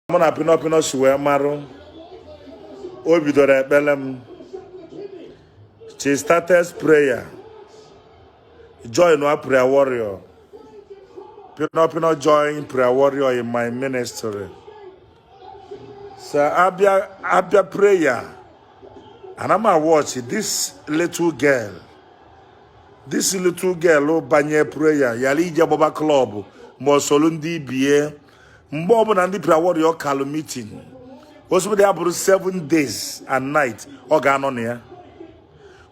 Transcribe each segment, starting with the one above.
mụ na pinọpinọ si wee marụ o bidoro ekpere m she started prayer join a prayer warrior pinọpinọ join prayer warrior in my ministry so abịa abịa prayer ana m watch this little girl this little girl banye prayer yara ije gbaba klọb ma ọ soro ndị ibie mgbe ọbụla ndị prayer warrior callụ meeting osibodi abụrụ 7 days and night ọ ga-anọ na ya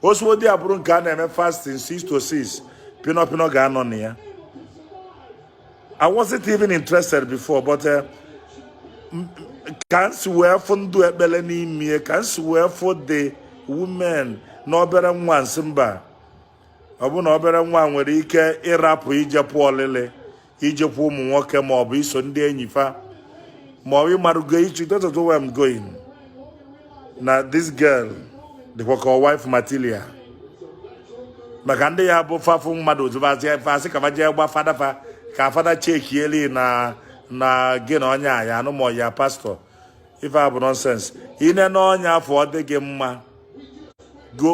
osibodi abụrụ nke a na-eme fasting 6 to 6 pino pino ga-anọ na ya I wasn't even interested before but uh, ka nsi wee fụ ndụ ekpele n'ime ka nsi wee fụ the women na obere nwa nsị mba ọ bụ na obere nwa nwere ike ịrapụ ijepụ olili ijekwu ụmụ nwoke ma ọ bụ iso ndị enyi fa ma ọ bụ ịmarụgo ichu that's not where I'm going na this girl dịkwa ka wife material maka ndị ya bụ fa fụ mmadụ ozubazị fa asị ka fa jee gwa fada fa ka fada chekieli na na gị na onye a ya-anụ ma ọ ya pastor ife a bụ nonsense i nenụ onye afụ ọ dị gị mma go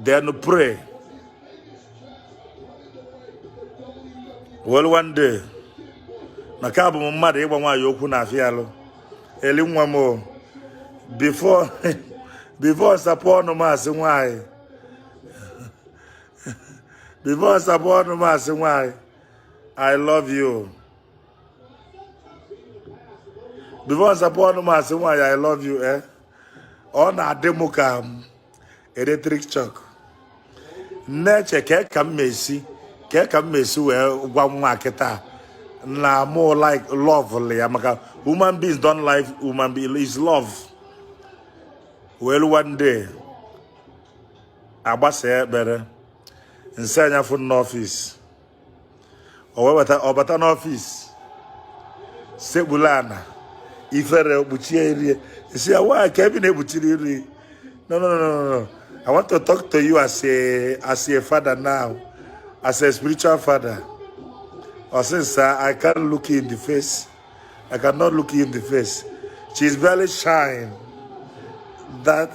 then pray well one day na ka abụ m mmadụ ịgwa nwaanyị okwu na-afịalụ eli nwa m o before before nsapụ ọnụ m asị nwaanyị before nsapụ ọnụ m asị nwaanyị i love you before nsapụ ọnụ m asị nwaanyị i love you eh ọ na-adị m ka electric shock na-eche kee ka m esi kee ka m esi wee gwa nwa a kịta na mụ like lovelụ ya maka human beings don't like human being is love wee luo one day agbasa ekpere nsị ya nya fụ n'office ọ bata n'office sekpulu ana ifere kpuchie iru e nsị ya nwaanyị kee ife ị na-ekpuchiri iru no no no no i want to talk to you as a as a father now as a spiritual father ọ sị uh, i can't look you in the face i cannot look you in the face she is very shy that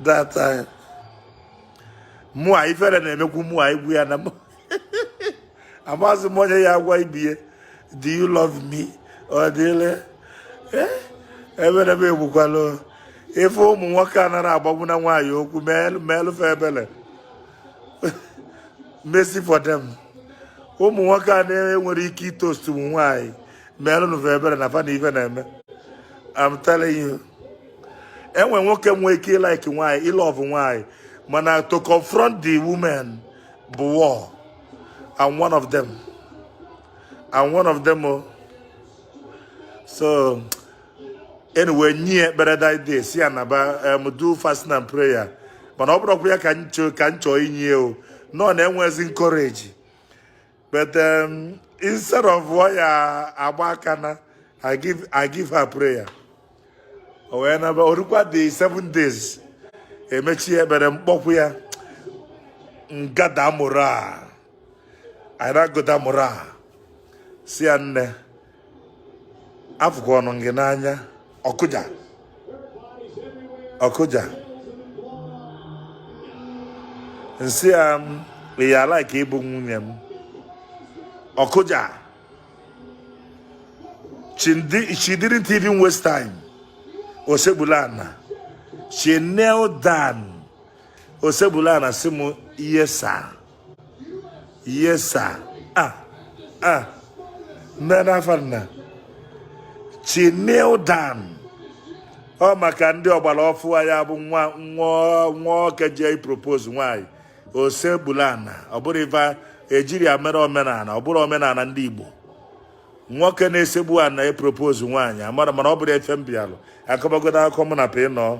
that time. Uh, mụa ifere na-emekwu mụa ịgwa ya na amazi m onye ya-agwa ibe e do you love me ọ dịle eh? ebere m egbukwala ife ụmụ nwoke anara agbagbu na nwaanyị okwu meelụ fa ebele mercy for them ụmụ nwoke a na-enwere ike ịtoast ụmụ nwaanyị meelụnụ fa ebere na fa na ife na-eme I'm telling you enwe nwoke nwee ike ịlike nwaanyị ịlove nwaanyị mana to confront the women bụ war I'm one of them I'm one of them oh. so anyway nye ekpere that day sị ya naba um, do fasting and prayer mana ọ bụrọkwa ya ka nchọ ka nchọ inye o nọ na enwezi m courage but um, instead of ọ ya-agba aka naa I give I give her prayer o wee naba orukwa the seven days e mechie ekpere m kpọkwu ya ngada mụrụ a anyị na-agụda mụrụ a sị ya nne afụkwanụ m gị n'anya ọ kụja ọ kụja m sị ya ị ya-alike ịbụ nwunye m ọ kụja she didn't even waste time o sekpulu ana she knelt down o sekpulu ana sị m yes sir yes sir ah ah nne n'afọ nna she kneel down ọ maka ndị ọgbara ọfụụ ya bụ nwa nwa nwoke jee propose nwanyị o sekpulu ana ọ bụrọ ife ejiri ya mere omenala ọ bụrọ omenala ndị igbo nwoke na-esekpu ana epropose nwaanyị amara m mana ọ bụrọ ife m bịalụ akọbagodo akụkọ mụ na pịnọ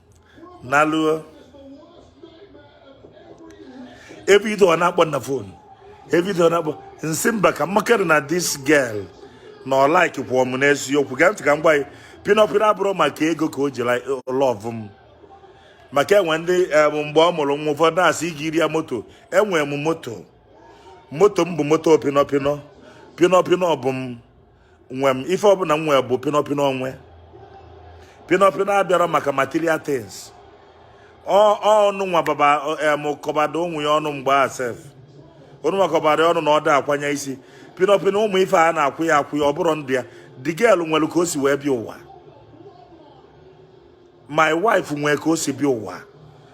naluo ebido ọ na-akpọ na phone ebido ọ na-akpọ m sị mba ka m makwara na this girl na ọ like kwụọ m n'eziokwu gee ntị ka m gwa gị pịnọ pịnọ abụrọ maka ego ka o ji love m maka e nwe ndị mgbe ọ mụrụ nwa ụfọdụ na-asị ị zụrụ ya moto enwere m moto moto m bụ moto pịnọ pịnọ pịnọ pịnọ bụ m nwe m ife ọbụla m nwere bụ pinọpinọ nwe pinọpinọ abịarọ maka material things ọnụ nwa baba em kọbado onwe ya ọnụ mgbe a sef onụ nwa kọbado ọnụ na ọ da akwanye isi pinọpinọ ụmụ ife a na-akwụnye akwụnye ọ bụrọ ndị ya the girl nwere ka o si wee bịa ụwa my wife nwere ka o si bịa ụwa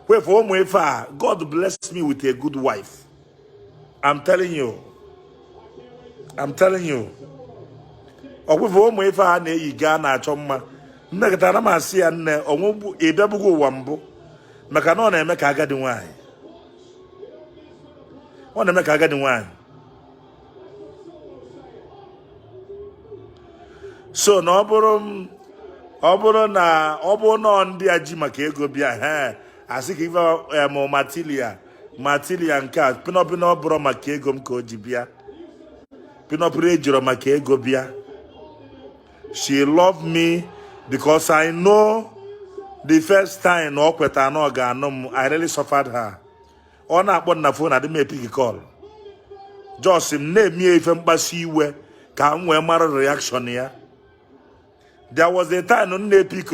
kwefe ụmụ ife a god bless me with a good wife I'm telling you I'm telling you ọ kwụfe ụmụ ife a na-eyi gaa na-achọ mma m mekata m asị ya nne ọ bụ ị bịabugo ụwa mbụ maka na ọ na-eme ka agadi nwanyị ọ na-eme ka agadi nwanyị so na ọ bụrụ ọ bụrụ na ọ bụ nọọ ndị a ji maka ego bịa he asị ka ife eh, material material nke a pinọpinọ ọ bụrọ maka ego m ka o ji bịa pinọpinọ ejirọ maka ego bịa she love me because I know the first time na ọ kweta na ọ ga-anụ m I really suffered her ọ na-akpọ m na phone adị m epick call just m na-eme ife mkpasu iwe ka m wee mara reaction ya there was a time m na-epick